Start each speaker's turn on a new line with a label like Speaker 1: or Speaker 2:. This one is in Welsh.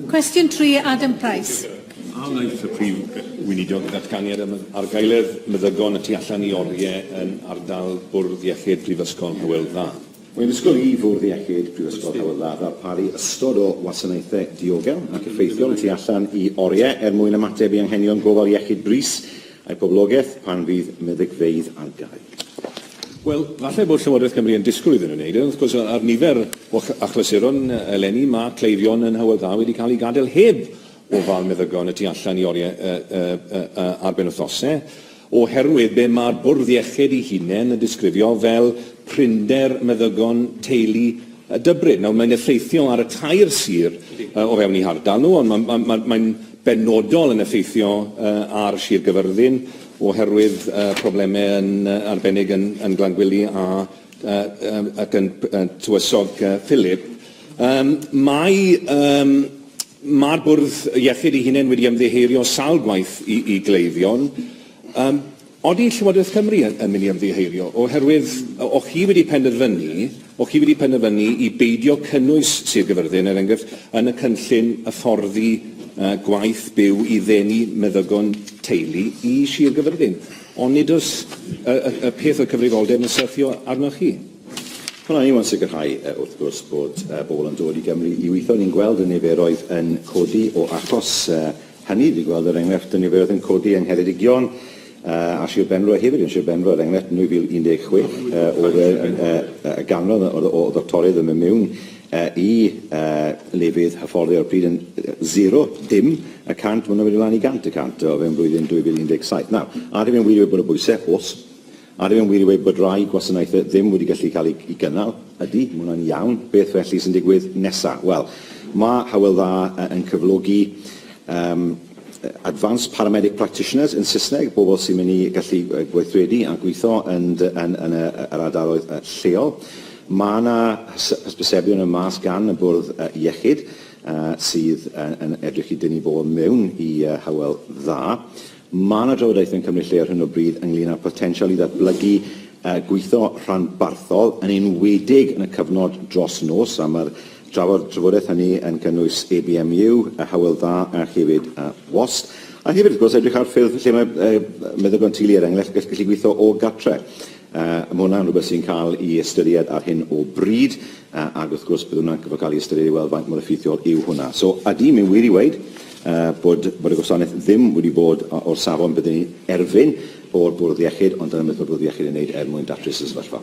Speaker 1: Cwestiwn 3, Adam Price. A wnaeth y Prif Weinidog ddatganiad am argaeledd meddygon y tu allan i oriau yn ardal Bwrdd Iechyd Prifysgol Hywel Dda? Mae Ysgol I Fwrdd Iechyd Prifysgol Hywel Dda ddarparu ystod o wasanaethau diogel ac effeithiol y tu allan i oriau er mwyn ymateb i anghenion gofal iechyd brys a'i poblogaeth pan fydd meddygfeydd ar gau. Wel, falle bod Llywodraeth Cymru yn disgwyl iddyn nhw wneud e. Wrth gwrs, ar nifer o achlysuron eleni, mae cleifion yn Hywel Dda wedi cael eu gadael heb ofal meddygon y tu allan i oriau ar benwythnosau, oherwydd be mae'r bwrdd iechyd ei hunain yn disgrifio fel prinder meddygon teulu Dybryn. Nawr, mae'n effeithio ar y tair sir o fewn eu hardal nhw, ond mae'n benodol yn effeithio ar Sir Gaerfyrddin, oherwydd problemau yn arbennig yn yn Glangwili a yy ac yn Tywysog Phillip. Yym mae yym mae'r bwrdd iechyd ei hunain wedi ymddiheurio sawl gwaith i i gleifion. Yym odi Llywodraeth Cymru yn yn mynd i ymddiheurio oherwydd o- o'ch chi wedi penderfynu O'ch chi wedi penderfynu i beidio cynnwys Sir Gaerfyrddin, er enghraifft, yn y cynllun hyfforddi gwaith byw i ddenu meddygon teulu i Sir Gaerfyrddin? Ond nid oes y y y peth o'r cyfrifoldeb yn syrthio arnoch chi. Wel, o'n i mo'n sicrhau, wrth gwrs, bod pobl yn dod i Gymru i weithio. Ni'n gweld y niferoedd yn codi o achos Hynny ydi, gweld yr enghraifft o niferoedd yn codi yng Ngheredigion a Sir Benfro hefyd. Yn Sir Benfro, er enghraifft, yn 2016 oedd y ganran o ddoctoriaid yn mynd mewn i lefydd hyfforddi ar y pryd yn zero, dim, y cant, mae hwnna wedi mlaen i gant y cant o fewn blwyddyn 2017. Nawr, a ydyn ni'n wir wedi bod o bwysau? Oes. Ar yw'n wir i weud bod rhai gwasanaethau ddim wedi gallu cael eu cynnal? Ydy, mae hwnna'n iawn. Beth felly sy'n digwydd nesaf? Wel, mae Hywel Dda yn cyflogi um, Advanced Paramedic Practitioners yn Saesneg, bobl sy'n mynd i gallu gweithredu a gweithio yn, yn, yn yr ardaloedd lleol. Mae yna hysbysebion yn mas gan y bwrdd iechyd sydd yn edrych i dynnu bobl mewn i Hywel Dda. Mae yna drafodaethau yn cymryd lle ar hyn o bryd ynglŷn â'r potensial i ddatblygu gweithio rhanbarthol, yn enwedig yn y cyfnod dros nos, a mae'r trafodaeth hynny yn cynnwys ABMU, Hywel Dda a hefyd WAST. A hefyd, wrth gwrs, edrych ar ffyrdd lle mae meddygon teulu, er enghraifft, yn gallu gweithio o gartre. Mae hwnna yn rhywbeth sy'n cael ei ystyried ar hyn o bryd, ac wrth gwrs bydd hwnna'n gorfod cael ei ystyried i weld faint mor effeithiol yw hwnna. So, ydy, mae'n wir i weud bod bod y gwasanaeth ddim wedi bod o'r safon byddwn ni'n erfyn o'r bwrdd iechyd, ond dyna beth mae'r bwrdd iechyd yn ei wneud er mwyn datrys y sefyllfa.